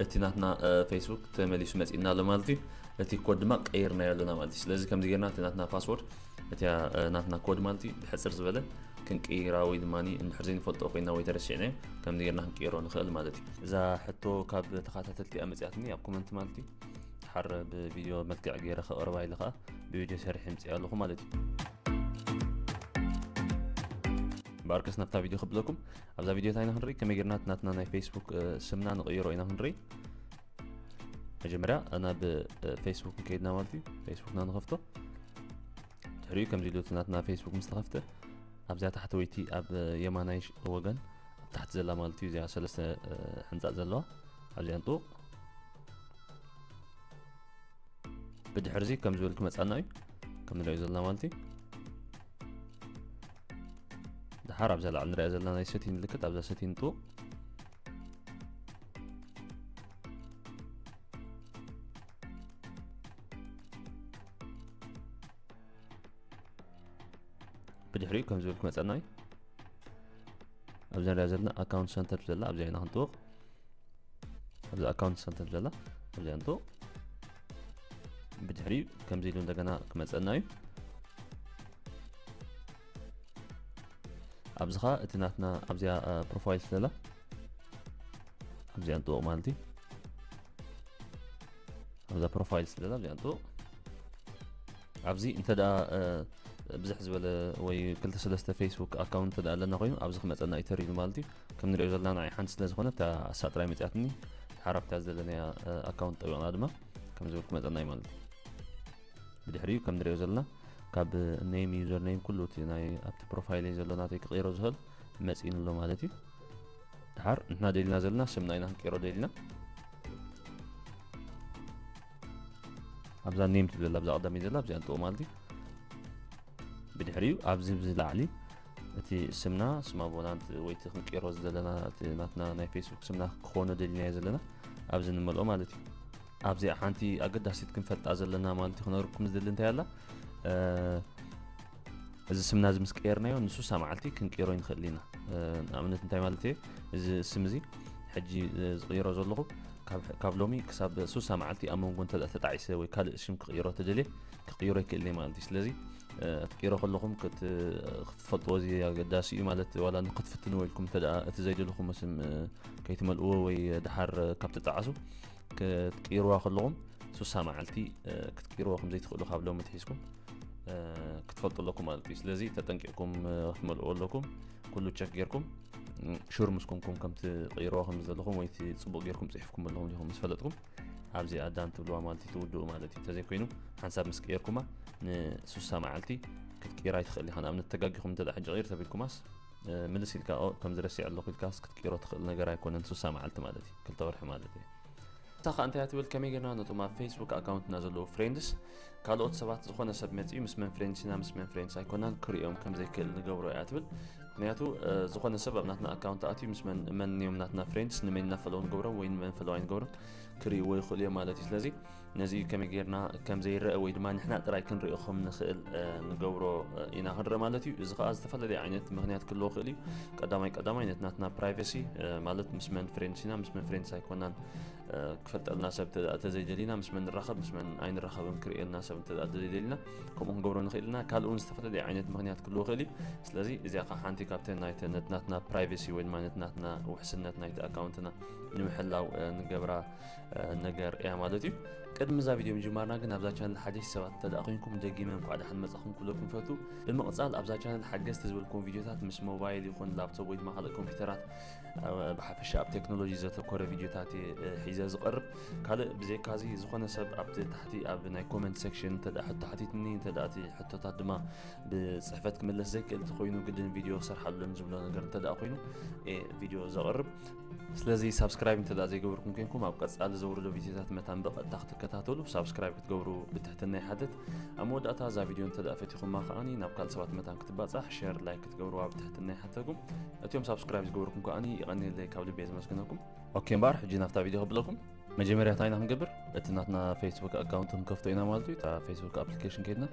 እቲ ናትና ፌስቡክ ተመሊሱ መፂእና ኣሎ ማለት እዩ እቲ ኮድ ድማ ቀይርናዮ ኣለና ማለት እዩ ስለዚ ከምዚ ጌርና እቲ ናትና ፓስወርድ እቲ ናትና ኮድ ማለት እዩ ብሕፅር ዝበለ ክንቅይራ ወይ ድማ እንድሕር ዘይንፈልጦ ኮይና ወይ ተረሲዕናዮ ከምዚ ጌርና ክንቅይሮ ንኽእል ማለት እዩ እዛ ሕቶ ካብ ተኸታተልቲ እያ መፅያትኒ ኣብ ኮመንት ማለት እዩ ሓረ ብቪድዮ መልክዕ ገይረ ከቕርባ ኢለ ከዓ ብቪድዮ ሰሪሐ ምፅእ ኣለኹ ማለት እዩ ባርከስ ናብታ ቪድዮ ክብለኩም ኣብዛ ቪድዮ እንታይ ኢና ክንርኢ ከመይ ጌርና ናትና ናይ ፌስቡክ ስምና ንቕይሮ ኢና ክንርኢ መጀመርያ ናብ ፌስቡክ ንከይድና ማለት እዩ ፌስቡክና ንኸፍቶ ትሕሪኡ ከምዚ ኢሉ እቲ ናትና ፌስቡክ ምስ ተኸፍተ ኣብዚኣ ታሕተወይቲ ኣብ የማናይ ወገን ኣብ ታሕቲ ዘላ ማለት እዩ እዚኣ ሰለስተ ሕንፃፅ ዘለዋ ኣብዚኣ ንጥውቕ ብድሕርዚ ከም ዝበል ክመፃና እዩ ከም ንሪኦ ዘለና ማለት እዩ ድሓር ኣብዛ ላዕሊ ንሪኣ ዘለና ናይ ሰቲ ምልክት ኣብዛ ሰቲ ንጥውቕ ብድሕሪኡ ከም ዝብል ክመፀና እዩ ኣብዚ ንሪኣ ዘለና ኣካውንት ሰንተር ዘላ ኣብዚኣ ኢና ክንጥውቕ ኣብዚ ኣካውንት ሰንተር ዘላ ኣብዚኣ ንጥውቕ ብድሕሪኡ ከምዚ ኢሉ እንደገና ክመፀና እዩ ኣብዚ ከዓ እቲ ናትና ኣብዚኣ ፕሮፋይል ዘላ ኣብዚኣ ንጥወቕ ማለት እዩ ኣብዛ ፕሮፋይል ስለዛ ኣብዚኣ ንጥወቕ ኣብዚ እንተ ደኣ ብዝሕ ዝበለ ወይ ክልተ ሰለስተ ፌስቡክ ኣካውንት እንተ ኣለና ኮይኑ ኣብዚ ክመፀና እዩ ተሪሉ ማለት እዩ ከም ንሪኦ ዘለና ንዓይ ሓንቲ ስለ ዝኾነት እታ ኣሳ ጥራይ መፅያትኒ ሓራፍታ ዘለናያ ኣካውንት ጠቢቕና ድማ ከም ዝብል ክመፀና እዩ ማለት እዩ ብድሕሪኡ ከም ንሪኦ ዘለና ካብ ኔም ዩዘር ኔም ኩሉ እቲ ናይ ኣብቲ ፕሮፋይለይ ዘሎ ናተይ ክቕይሮ ዝኽእል መጺእኑ ኣሎ ማለት እዩ ድሓር ንሕና ደልና ዘለና ስምና ኢና ክንቀይሮ ደልና ኣብዛ ኔም ትብል ዘላ ብዛ ቀዳሚ ዘላ ኣብዚኣ ንጥቕ ማለት እዩ ብድሕሪኡ ኣብዚ ብዝላዕሊ እቲ ስምና ስማ ቦላንት ወይ እቲ ክንቀይሮ ዘለና እቲ ናትና ናይ ፌስቡክ ስምና ክኾነ ደልናዮ ዘለና ኣብዚ ንመልኦ ማለት እዩ ኣብዚኣ ሓንቲ ኣገዳሲት ክንፈልጣ ዘለና ማለት እዩ ክነግርኩም ዝደሊ እንታይ ኣላ እዚ ስምና እዚ ምስ ቀየርናዮ ንሱሳ መዓልቲ ክንቅይሮ ይንኽእል ኢና ንኣብነት እንታይ ማለት እየ እዚ ስም እዚ ሕጂ ዝቕይሮ ዘለኹ ካብ ሎሚ ክሳብ ሱሳ መዓልቲ ኣብ መንጎ እንተ ተጣዒሰ ወይ ካልእ ሽም ክቕይሮ ተደልየ ክቕይሮ ይክእል እየ ማለት እዩ ስለዚ ክትቅይሮ ከለኹም ክትፈልጥዎ እዚ ኣገዳሲ እዩ ማለት ዋላ ንክትፍትንዎ ኢልኩም እተ እቲ ዘይደለኹም ስም ከይትመልእዎ ወይ ድሓር ካብ ተጣዓሱ ክትቅይርዋ ከለኹም ሱሳ መዓልቲ ክትቅይርዎ ከምዘይትኽእሉ ካብ ሎሚ ትሒዝኩም ክትፈልጡ ኣለኩም ማለት እዩ ስለዚ ተጠንቂቕኩም ክትመልእዎ ኣለኩም ኩሉ ቸክ ጌርኩም ሹር ምስ ኮንኩም ከምቲ ቀይርዋ ከም ዘለኹም ወይ ፅቡቅ ጌርኩም ፅሒፍኩም ኣለኹም ዲኹም ምስ ፈለጥኩም ኣብዚ ኣዳን ትብልዋ ማለት እዩ ትውድኡ ማለት እዩ ተዘይኮይኑ ሓንሳብ ምስ ቀየርኩማ ንሱሳ መዓልቲ ክትቅይራ ይትኽእል ኢኻ ንኣብነት ተጋጊኹም እንተ ሕጂ ቀይር ተቢልኩማስ ምልስ ኢልካ ከምዚ ረሲዕ ኣለኹ ኢልካስ ክትቅይሮ ትኽእል ነገር ኣይኮነን ሱሳ መዓልቲ ማለት እዩ ክልተ ወርሒ ማለት እዩ እታ ከኣ እንታይ እያ ትብል ከመይ ጌርና ነቶም ኣብ ፌስቡክ ኣካውንትና ዘለዉ ፍሬንድስ ካልኦት ሰባት ዝኾነ ሰብ መጺኡ ምስ መን ፍሬንድስ ኢና ምስ መን ፍሬንድስ ኣይኮናን ክርእዮም ከም ዘይክእል ንገብሮ እያ ትብል ምክንያቱ ዝኾነ ሰብ ኣብ ናትና ኣካውንት ኣትዩ ምስ መን መን እዮም ናትና ፍሬንድስ ንመን ኢና ፈለዉ ንገብሮም ወይ ንመን ፈለዋ ኣይንገብሮም ክርእይዎ ይኽእሉ እዮም ማለት እዩ ስለዚ ነዚ ከመይ ጌርና ከም ዘይረአ ወይ ድማ ንሕና ጥራይ ክንሪኦ ከም ንኽእል ንገብሮ ኢና ክንርኢ ማለት እዩ እዚ ከዓ ዝተፈላለየ ዓይነት ምክንያት ክህልዎ ክእል እዩ ቀዳማይ ቀዳማይ ነቲ ናትና ፕራይቨሲ ማለት ምስ መን ፍሬንድስ ኢና ምስ መን ፍሬንድስ ኣይኮናን ክፈልጠልና ሰብ ተዘይደሊና ምስ መን ንራኸብ ምስ መን ኣይንራኸብን ክርእየልና ሰብ እንተ ተዘይደሊና ከምኡ ክንገብሮ ንኽእል ኢና ካልእ እውን ዝተፈላለየ ዓይነት ምክንያት ክህልዎ ይኽእል እዩ ስለዚ እዚኣ ከዓ ሓንቲ ካብተን ናይቲ ነቲ ናትና ፕራይቨሲ ወይ ድማ ነቲ ናትና ውሕስነት ናይቲ ኣካውንትና ንምሕላው ንገብራ ነገር እያ ማለት እዩ ቅድሚ እዛ ቪድዮ ምጅማርና ግን ኣብዛ ቻነል ሓደሽቲ ሰባት እንተደኣ ኮንኩም ደጊመ እንኳዕ ደሓን መጻኹም ክብለኩም ፈቱ ብምቕጻል ኣብዛ ቻነል ሓገዝቲ ዝበልኩም ቪድዮታት ምስ ሞባይል ይኹን ላፕቶፕ ወይ ድማ ካልእ ኮምፒውተራት ብሓፈሻ ኣብ ቴክኖሎጂ ዘተኮረ ቪድዮታት ሒዘ ዝቐርብ ካልእ ብዘይካዚ ዝኾነ ሰብ ኣብቲ ታሕቲ ኣብ ናይ ኮመንት ሴክሽን እንተደ ሕቶ ሓቲትኒ እንተደ እቲ ሕቶታት ድማ ብፅሕፈት ክምለስ ዘይክእል እንተኮይኑ ግድን ቪድዮ ክሰርሓሉን ዝብሎ ነገር እንተደ ኮይኑ ቪድዮ ዘቕርብ ስለዚ ሳብስክራይብ እንተ ዘይገበርኩም ኮንኩም ኣብ ቀጻሊ ዘውርዶ ቪድዮታት መታን ብቐጥታ ክትከታተሉ ሳብስክራይብ ክትገብሩ ብትሕትና ይሓትት ኣብ መወዳእታ እዛ ቪድዮ እንተ ፈቲኹማ ከዓኒ ናብ ካልእ ሰባት መታን ክትባጻሕ ሸር ላይክ ክትገብርዋ ብትሕትና ይሓተኩም እትዮም ሳብስክራይብ ዝገበርኩም ከዓኒ ይቐኒየለይ ካብ ልቤ ዘመስግነኩም ኦኬ እምበኣር ሕጂ ናብታ ቪድዮ ከብለኩም መጀመርያ እንታይ ኢና ክንገብር እቲ ናትና ፌስቡክ ኣካውንት ክንከፍቶ ኢና ማለት እዩ እታ ፌስቡክ ኣፕሊኬሽን ከይድና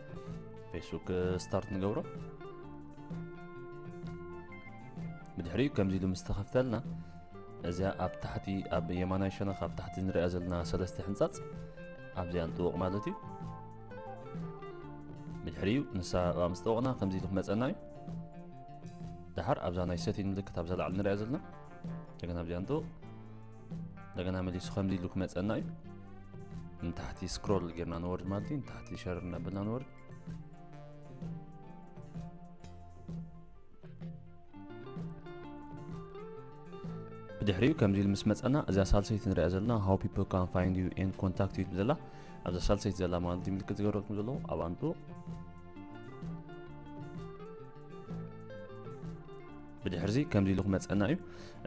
ፌስቡክ ስታርት ንገብሮ ብድሕሪኡ ከምዚ ኢሉ ምስ ተኸፍተልና እዚኣ ኣብ ታሕቲ ኣብ የማናይ ሸነኽ ኣብ ታሕቲ ንሪኣ ዘለና ሰለስተ ሕንጻጽ ኣብዚኣ ንጥወቕ ማለት እዩ ብድሕሪኡ ንሳ ኣብኣ ምስ ጠወቕና ከምዚ ኢሉ ክመፀና እዩ ድሓር ኣብዛ ናይ ሰቲን ምልክት ኣብዛ ላዕሊ ንሪኣ ዘለና እንደገና ኣብዚኣ ንጥወቕ እንደገና መሊሱ ከምዚ ኢሉ ክመፀና እዩ ንታሕቲ ስክሮል ጌርና ንወርድ ማለት እዩ ንታሕቲ ሸር እናበልና ንወርድ ብድሕሪኡ ከምዚ ኢሉ ምስ መፀና እዛ ሳልሰይቲ ንሪኣ ዘለና ሃው ፒፕል ካን ፋይንድ ዩ ኤንድ ኮንታክት ዩ ዘላ ኣብዛ ሳልሰይቲ ዘላ ማለት እዩ ምልክት ዝገበረልኩም ዘለዎ ኣብ ኣንጡ ብድሕርዚ ከምዚ ኢሉ ክመፀና እዩ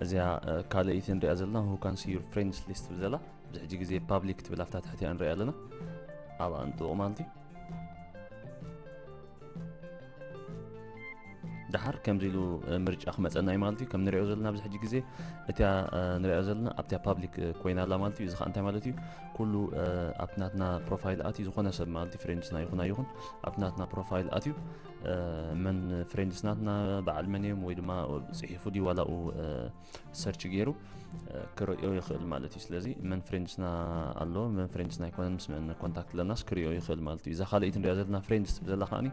እዚኣ ካልኣይቲ ንሪኣ ዘለና ሁ ካን ሲ ዩር ፍሬንድስ ሊስት ትብል ዘላ ኣብዚ ሕጂ ግዜ ፓብሊክ ትብል ኣብታ ትሕቲኣ ንሪኣ ኣለና ኣብ ኣንጥቑ ማለት እዩ ድሓር ከምዚ ኢሉ ምርጫ ክመፀና እዩ ማለት እዩ ከም ንሪኦ ዘለና ኣብዚ ሕጂ ግዜ እቲያ ንሪኦ ዘለና ኣብቲያ ፓብሊክ ኮይና ኣላ ማለት እዩ እዚ ከዓ እንታይ ማለት እዩ ኩሉ ኣብቲ ናትና ፕሮፋይል ኣትዩ ዝኾነ ሰብ ማለት እዩ ፍሬንድስና ይኹን ኣይኹን ኣብቲ ናትና ፕሮፋይል ኣትዩ መን ፍሬንድስ ናትና በዓል መን እዮም ወይ ድማ ፅሒፉ ድዩ ዋላኡ ሰርች ገይሩ ክርእዮ ይኽእል ማለት እዩ ስለዚ መን ፍሬንድስና ኣሎ መን ፍሬንድስና ኣይኮነን ምስ መን ኮንታክት ኣለናስ ክርእዮ ይኽእል ማለት እዩ እዛ ካልኣይቲ ንሪኣ ዘለና ፍሬንድስ ትብል ዘላ ከዓኒ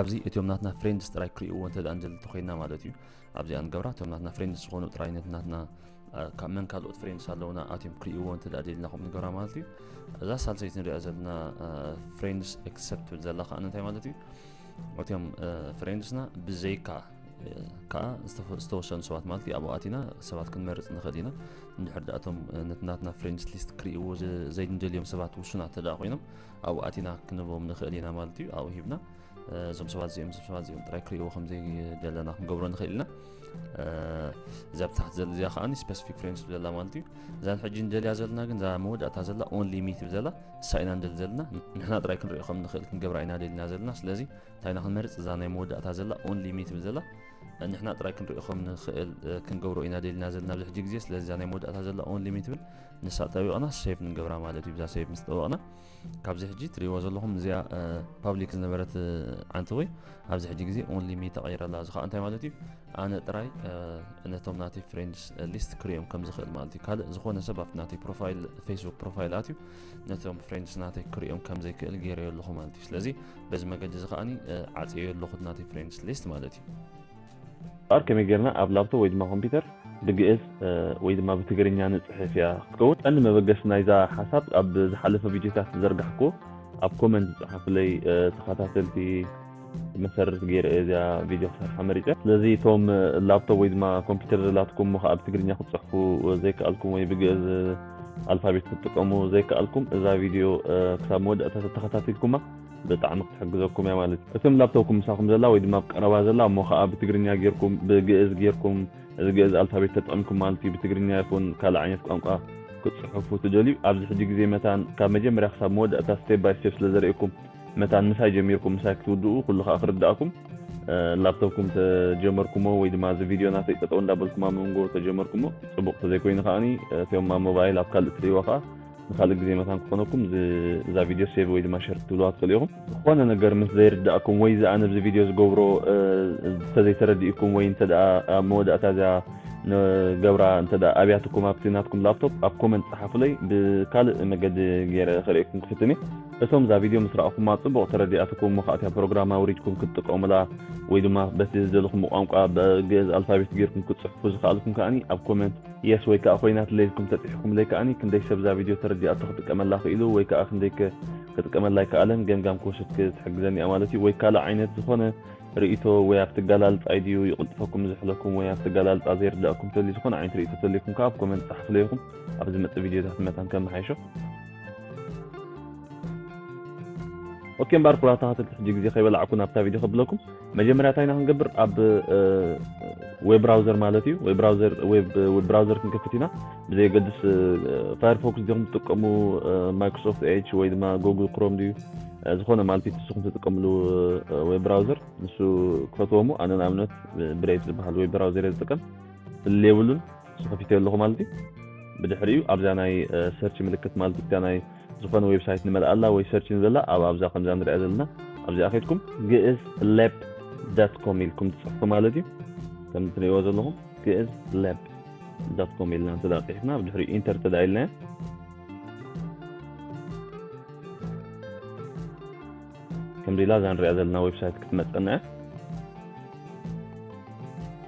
ኣብዚ እትዮም ናትና ፍሬንድስ ጥራይ ክርእይዎ እንተ እንጀል እንተኮይና ማለት እዩ ኣብዚኣ ንገብራ እቶም ናትና ፍሬንድስ ዝኾኑ ጥራይ ነቲ ናትና ካብ መን ካልኦት ፍሬንድስ ኣለውና ኣትዮም ክርእይዎ እንተ ደሊልና ከምኡ ንገብራ ማለት እዩ እዛ ሳልሰይቲ ንሪኣ ዘለና ፍሬንድስ ኤክሰፕት ትብል ዘላ ከዓኒ እንታይ ማለት እዩ እትም ፍሬንድስና ብዘይካ ከዓ ዝተወሰኑ ሰባት ማለት እዩ ኣብኡ ኣቲና ሰባት ክንመርፅ ንኽእል ኢና እንድሕር ዳ እቶም ነቲ ናትና ፍሬንድስ ሊስት ክርእይዎ ዘይንደልዮም ሰባት ውሱናት ተደኣ ኮይኖም ኣብኡ ኣቲና ክንቦም ንኽእል ኢና ማለት እዩ ኣብኡ ሂብና እዞም ሰባት እዚኦም እዞም ሰባት እዚኦም ጥራይ ክርእይዎ ከምዘይደለና ክንገብሮ ንኽእል ኢና እዛ ብታሕቲ ዘለ እዚኣ ከዓኒ ስፐሲፊክ ፍሬም ስብ ዘላ ማለት እዩ እዛ ሕጂ ንደልያ ዘለና ግን እዛ መወዳእታ ዘላ ኦን ሊሚት ብ ዘላ እሳ ኢና ንደሊ ዘለና ንሕና ጥራይ ክንሪኦ ከም ንኽእል ክንገብራ ኢና ደልና ዘለና ስለዚ እንታይና ክንመርፅ እዛ ናይ መወዳእታ ዘላ ኦን ሊሚት ብ ዘላ ንሕና ጥራይ ክንሪኦ ከም ንኽእል ክንገብሮ ኢና ደልና ዘለና ኣብዚ ሕጂ ግዜ ስለዚ እዛ ናይ መወዳእታ ዘላ ኦን ሊሚት ብል ንሳ ጠቢቕና ሴቭ ንገብራ ማለት እዩ ብዛ ሴቭ ምስ ጠበቕና ካብዚ ሕጂ ትሪእዎ ዘለኹም እዚኣ ፓብሊክ ዝነበረት ዓንተወ ኣብዚ ሕጂ ግዜ ኦንሊ ሚ ተቐይረላ እዚ ከዓ እንታይ ማለት እዩ ኣነ ጥራይ ነቶም ናተይ ፍሬንድስ ሊስት ክሪኦም ከም ዝኽእል ማለት እዩ ካልእ ዝኾነ ሰብ ኣብቲ ናተይ ፕሮፋይል ፌስቡክ ፕሮፋይል ኣትዩ ነቶም ፍሬንድስ ናተይ ክሪኦም ከም ዘይክእል ገይረዮ ኣለኹ ማለት እዩ ስለዚ በዚ መገዲ እዚ ከዓኒ ዓፅዮ ኣለኹ ናተይ ፍሬንድስ ሊስት ማለት እዩ እምበኣር ከመይ ጌርና ኣብ ላፕቶፕ ወይ ድማ ኮምፒተር ብግእዝ ወይ ድማ ብትግርኛ ንጽሕፍ እያ ክትከውን። ቀንዲ መበገሲ ናይዛ ሓሳብ ኣብ ዝሓለፈ ቪድዮታት ዝዘርጋሕኩዎ ኣብ ኮመንት ዝጸሓፉለይ ተኸታተልቲ መሰረት ገይረ እየ እዚኣ ቪድዮ ክሰርሓ መሪጸ። ስለዚ እቶም ላፕቶፕ ወይ ድማ ኮምፒተር ዘላትኩም እሞ ከኣ ብትግርኛ ክትጽሕፉ ዘይከኣልኩም ወይ ብግእዝ ኣልፋቤት ክትጥቀሙ ዘይከኣልኩም እዛ ቪድዮ ክሳብ መወዳእታ ተተኸታቲልኩማ ብጣዕሚ ክትሕግዘኩም እያ ማለት እዩ እትም ላብቶብኩም ምሳኩም ዘላ ወይ ድማ ኣብ ቀረባ ዘላ እሞ ከኣ ብትግርኛ ጌርኩም ብግእዝ ጌርኩም እዚ ግእዝ ኣልፋቤት ተጠቂምኩም ማለት እዩ ብትግርኛ ይኩን ካልእ ዓይነት ቋንቋ ክትጽሕፉ ትደልዩ ኣብዚ ሕጂ ግዜ መታን ካብ መጀመርያ ክሳብ መወዳእታ ስቴፕ ባይ ስቴፕ ስለ ዘርእየኩም መታን ምሳይ ጀሚርኩም ምሳይ ክትውድኡ ኩሉ ከኣ ክርዳእኩም ላፕቶፕኩም ተጀመርኩሞ ወይ ድማ እዚ ቪድዮ ናተይ ጠጠው እንዳበልኩም ኣብ መንጎ ተጀመርኩሞ ጽቡቅ ተዘይኮይኑ ከኣኒ እቶም ኣብ ሞባይል ኣብ ካልእ ትርእይዎ ከኣ ንኻልእ ግዜ መታን ክኾነኩም እዛ ቪድዮ ሴቭ ወይ ድማ ሸር ክትብልዋ ትኽእሉ ኢኹም። ዝኾነ ነገር ምስ ዘይርድኣኩም ወይ እዚ ኣነ ኣብዚ ቪድዮ ዝገብሮ እንተዘይተረዲኡኩም ወይ እንተድኣ ኣብ መወዳእታ እዚኣ ገብራ እንተድኣ ኣብያትኩም ኣብቲ ናትኩም ላፕቶፕ ኣብ ኮመንት ጸሓፉለይ ብካልእ መገዲ ገይረ ከርእየኩም ክፍትን እየ። እቶም እዛ ቪድዮ ምስ ረኣኹማ ጽቡቕ ተረዲኣትኩም እሞ ከኣ እታ ፕሮግራም ኣውሪድኩም ክትጥቀሙላ ወይ ድማ በቲ ዝደለኹምዎ ቋንቋ ብግእዝ ኣልፋቤት ገይርኩም ክትጽሕፉ ዝክኣልኩም ከኣ ኣብ ኮመንት Yes ወይ ከኣ ኮይና ትለይልኩም ተጺሒኩምለይ ከኣ ክንደይ ሰብ እዛ ቪድዮ ተረዲኣቶ ክጥቀመላ ክኢሉ ወይ ከኣ ክንደይ ከ ክጥቀመላ ኣይከኣለን ገምጋም ክወስድ ክትሕግዘኒ እያ ማለት እዩ ወይ ካልእ ዓይነት ዝኮነ ርእይቶ ወይ ኣብቲ ኣገላልጻይ ድዩ ይቕልጥፈኩም ዝሕለኩም ወይ ኣብቲ ኣገላልጻ ዘይርድኣኩም ተልዩ ዝኾነ ዓይነት ርእይቶ ተልዩኩም ከኣ ኣብ ኮመንት ጸሓፉለይ ኢኹም ኣብ ዝመጽእ ቪድዮታት መታን ከመሓይሾ ኦኬ እምበኣር ኩራታታት እቲ ሕጂ ግዜ ከይበላዕኩ ናብታ ቪድዮ ከብለኩም መጀመርያ እንታይ ኢና ክንገብር ኣብ ዌብ ብራውዘር ማለት እዩ ዌብ ብራውዘር ዌብ ብራውዘር ክንከፍት ኢና ብዘየገድስ ፋየርፎክስ ዲኹም ትጥቀሙ ማይክሮሶፍት ኤች ወይ ድማ ጎግል ክሮም ድዩ ዝኾነ ማለት እዩ ንስኹም ትጥቀምሉ ዌብ ብራውዘር ንሱ ክፈትዎ እሞ ኣነ ንኣብነት ብሬት ዝበሃል ዌብ ብራውዘር እየ ዝጥቀም ፍልል የብሉን ንሱ ከፊተዮ ኣለኹ ማለት እዩ ብድሕሪኡ ኣብዛ ናይ ሰርች ምልክት ማለት እዩ ናይ ዝኾነ ዌብሳይት ንመልኣላ ወይ ሰርች ንዘላ ኣብ ኣብዛ ከምዛ ንሪኣ ዘለና ኣብዚኣ ከድኩም ግእዝ ለብ ዳት ኮም ኢልኩም ትጽሕፉ ማለት እዩ ከምዚ ትርእይዎ ዘለኹም ግእዝ ለብ ዳት ኮም ኢልና እንተ ቂሕፍና ኣብ ድሕሪኡ ኢንተር እንተ ኢልናዮ ከምዚ ኢላ እዛ ንሪኣ ዘለና ዌብሳይት ክትመፀና እያ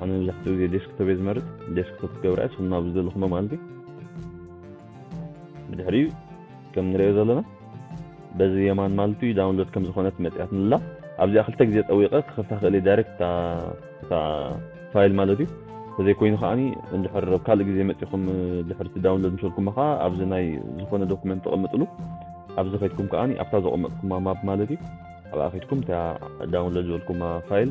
ኣነ መብዛሕትኡ ግዜ ዴስክቶፕ እየ ዝመርጽ ዴስክቶፕ ክገብራ እየ ንስኹም ኣብ ዝደለኹሞ መኣልቲ ብድሕሪኡ ከም ንሪኦ ዘለና በዚ የማን ማልቱ ዳውንሎድ ከም ዝኾነት መጽያትኒ ኣላ ኣብዚኣ ክልተ ግዜ ጠዊቐ ክኸፍታ ክእል ዳይሬክት እታ ፋይል ማለት እዩ ተዘይኮይኑ ከዓኒ እንድሕር ኣብ ካልእ ግዜ መጺኹም ድሕርቲ ዳውንሎድ ምስልኩማ ከዓ ኣብዚ ናይ ዝኾነ ዶኩመንት ተቐምጥሉ ኣብዚ ከድኩም ከዓኒ ኣብታ ዘቐመጥኩማ ማፕ ማለት እዩ ኣብኣ ከድኩም እታ ዳውንሎድ ዝበልኩማ ፋይል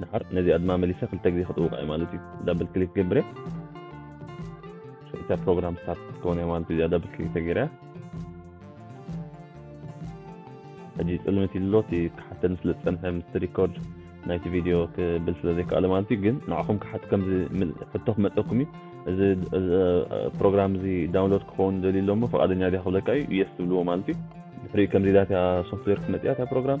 ድሓር ነዚኣ ድማ መሊሰ ክልተ ግዜ ክጥውቃ እየ ማለት እዩ ዳብል ክሊክ ገብረ እታ ፕሮግራም ስታርት ክትከውን እያ ማለት እዩ እዚኣ ዳብል ክሊክ ተገይራ ሕጂ ፅልምት ኢሉ እቲ ክሓተኒ ስለ ዝፀንሐ ምስቲ ሪኮርድ ናይቲ ቪድዮ ክብል ስለ ዘይከኣለ ማለት እዩ ግን ንዓኹም ክሓት ከምዚ ሕቶ ክመፀኩም እዩ እዚ ፕሮግራም እዚ ዳውንሎድ ክኸውን ደልዩ ኣሎሞ ፈቓደኛ ድያ ክብለካ እዩ የስ ትብልዎ ማለት እዩ ድሕሪኡ ከምዚ ዳትያ ሶፍትዌር ክትመፅያ እታ ፕሮግራም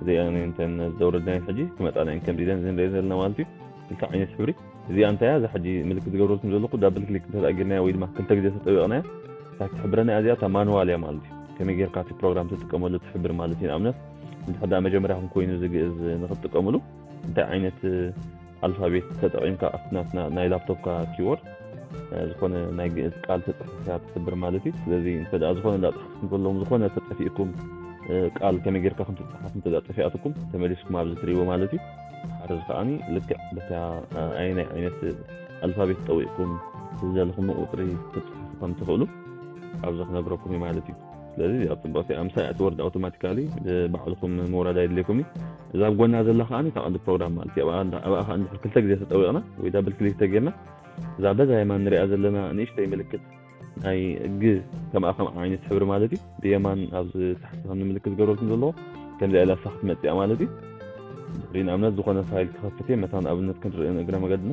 እዚኣ እንተን ዘውረድናየን ሕጂ ክመጻና እየን ከምዚ ኢለን ዝንሪኦ ዘለና ማለት እዩ ክልተ ዓይነት ሕብሪ እዚኣ እንታይ እያ እዛ ሕጂ ምልክት ዝገብረልኩም ዘለኹ ዳብል ክሊክ እንተ ጌርናያ ወይ ድማ ክልተ ግዜ ተጠቢቕናያ እታ ትሕብረና እያ እዚኣ እታ ማንዋል እያ ማለት እዩ ከመይ ጌርካ እቲ ፕሮግራም ትጥቀመሉ ትሕብር ማለት እዩ ንኣብነት እንድሕር መጀመርያኹም ኮይኑ እዚ ግእዝ ንክትጥቀምሉ እንታይ ዓይነት ኣልፋቤት ተጠቒምካ ኣብቲ ናትና ናይ ላፕቶፕካ ኪቦርድ ዝኾነ ናይ ግእዝ ቃል ተፅሒፍካ ትስብር ማለት እዩ ስለዚ እንተ ዝኾነ እንዳፅሓፍኩም ዘለዎም ዝኾነ ተጠፊእኩም ቃል ከመይ ጌርካ ከም ትፅሓፍ እንተ ጠፊኣትኩም ተመሊስኩም ኣብዚ ትሪእዎ ማለት እዩ ሓረዚ ከዓኒ ልክዕ በታ ኣየናይ ዓይነት ኣልፋቤት ጠዊቕኩም ዝዘለኹም ቁፅሪ ክትፅሓፉ ከም ትኽእሉ ኣብዚ ክነግረኩም እዩ ማለት እዩ ስለዚ እዚኣ ፅብቕቲ እያ ምሳይ እያ ትወርድ ኣውቶማቲካሊ ባዕልኩም ምውራድ ኣይድልየኩም እዩ እዛ ኣብ ጎና ዘላ ከዓ እታ ቀንዲ ፕሮግራም ማለት እዩ ኣብኣ ከዓ እንድሕር ክልተ ግዜ ተጠዊቕና ወይ ዳብል ክሊክ ተጌርና እዛ በዛ የማን ንሪኣ ዘለና ንእሽተይ ምልክት ናይ ግ ከምኣ ከም ዓይነት ሕብሪ ማለት እዩ ብየማን ኣብዚ ታሕቲ ከም ንምልክት ዝገብረልኩም ዘለዎ ከምዚኣ ኢላ ሳኽ ክትመፅኣ ማለት እዩ ድሕሪ ንኣብነት ዝኾነ ፋይል ክኸፍት እየ መታን ኣብነት ክንርኢ እግረ መገድና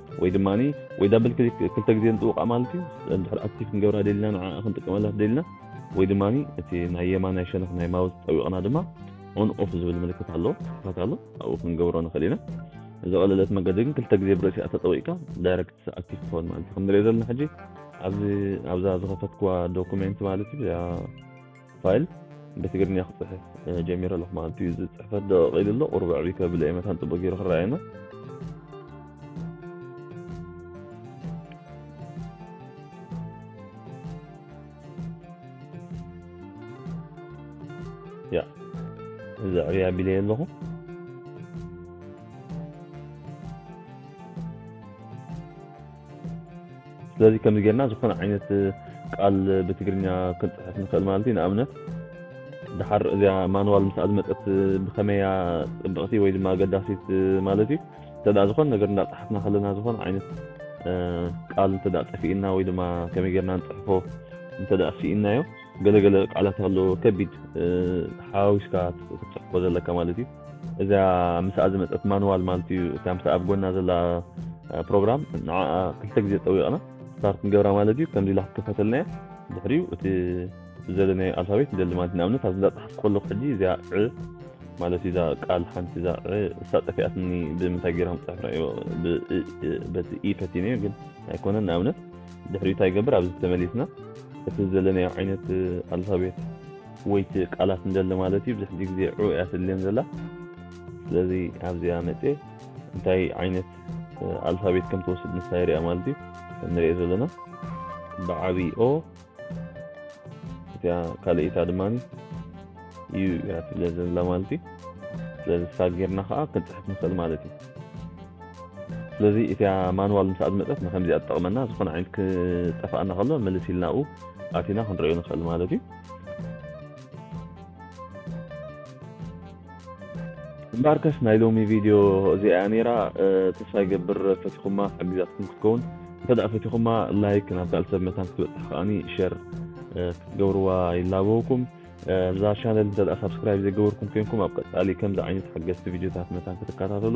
ወይ ድማ ወይ ዳብል ክሊክ ክልተ ግዜ ንጥውቃ ማለት እዩ እንድሕር ኣክቲቭ ክንገብራ ደሊና ንዓ ክንጥቀመላ ደሊና ወይ ድማ እቲ ናይ የማናይ ሸነኽ ናይ ማውዝ ጠዊቕና ድማ ኦን ኦፍ ዝብል ምልክት ኣሎ ክፋት ኣሎ ኣብኡ ክንገብሮ ንኽእል ኢና ዝቐለለት መገዲ ግን ክልተ ግዜ ብርእሲ ኣተጠዊቕካ ዳይረክት ኣክቲቭ ክኸውን ማለት እዩ ክንሪኦ ዘለና ሕጂ ኣብዚ ኣብዛ ዝኸፈትክዋ ዶኩሜንት ማለት እዩ ፋይል ብትግርኛ ክፅሕፍ ጀሚረ ኣለኹ ማለት እዩ። እዚ ፅሕፈት ደቐቕ ኢሉ ኣሎ ቁሩብ ዕብይ ከብለ እየ መታን ፅቡቅ ገይሩ ክረኣየና ያ እዚ ዕብይ ኣቢለ ኣለኹ ስለዚ ከምዚ ጌርና ዝኾነ ዓይነት ቃል ብትግርኛ ክንጽሕፍ ንኽእል ማለት እዩ። ንኣብነት ድሓር እዚኣ ማንዋል ምስኣ ዝመጸት ብኸመያ ጽብቕቲ ወይ ድማ ኣገዳሲት ማለት እዩ። እንተ ዝኾነ ነገር እንዳጸሓፍና ከለና ዝኾነ ዓይነት ቃል እንተ ጠፊእና ወይ ድማ ከመይ ጌርና ንጽሕፎ እንተ ስኢናዮ ገለገለ ቃላት ኣሎ ከቢድ ሓዋዊስካ ክትጽሕፎ ዘለካ ማለት እዩ። እዛ ምሳኣ ዝመጸት ማንዋል ማለት እዩ እታ ምሳኣ ኣብ ጎና ዘላ ፕሮግራም ንዓኣ ክልተ ግዜ ጠዊቕና ስታርት ንገብራ ማለት እዩ ከምዚ ኢላ ክትከፈተልና እያ ድሕሪኡ እቲ ብዘለናዮ ኣልፋቤት ንደሊ ማለት ንኣብነት ኣብዚ እንዳፀሓፍ ከለኩ ሕጂ እዚኣ ዕ ማለት እዛ ቃል ሓንቲ እዛ ዕ እሳ ጠፊኣትኒ ብምንታይ ገይሮም ፅሑፍ ራእዮ በቲ ኢ ፈቲነዮ ግን ኣይኮነን ንኣብነት ድሕሪኡ እንታይ ይገብር ኣብዚ ተመሊስና እቲ ዘለናዮ ዓይነት ኣልፋቤት ወይቲ ቃላት ንደሊ ማለት እዩ ብዙሕ ግዜ ዑ እያ ተድልየን ዘላ ስለዚ ኣብዚኣ መጽየ እንታይ ዓይነት ኣልፋቤት ከም ትወስድ ንሳ የሪኣ ማለት እዩ ከም ንሪኦ ዘለና ብዓብዪ ኦ እቲኣ ካልእታ ድማ እዩ እያ ትብለ ዘላ ማለት እዩ ስለዚ ሳ ጌርና ከዓ ክንፅሕፍ ንኽእል ማለት እዩ ስለዚ እቲያ ማንዋል ምስ ኣድመፀት ንከምዚኣ ትጠቕመና ዝኾነ ዓይነት ክጠፍኣና ከሎ ምልስ ኢልናኡ ኣቲና ክንሪኦ ንኽእል ማለት እዩ እምበኣርከስ ናይ ሎሚ ቪድዮ እዚኣ እያ ነይራ ተስፋ ይገብር ፈቲኹማ ሓጊዛትኩም ክትከውን እንተድኣ ፈቲኹማ ላይክ ናብ ካልእ ሰብ መታን ክትበጽሕ ከኣ ሸር ክትገብርዋ ይላበወኩም እዛ ቻነል እንተድኣ ሳብስክራይብ ዘይገበርኩም ኮንኩም ኣብ ቀጻሊ ከምዚ ዓይነት ሓገዝቲ ቪድዮታት መታን ክትከታተሉ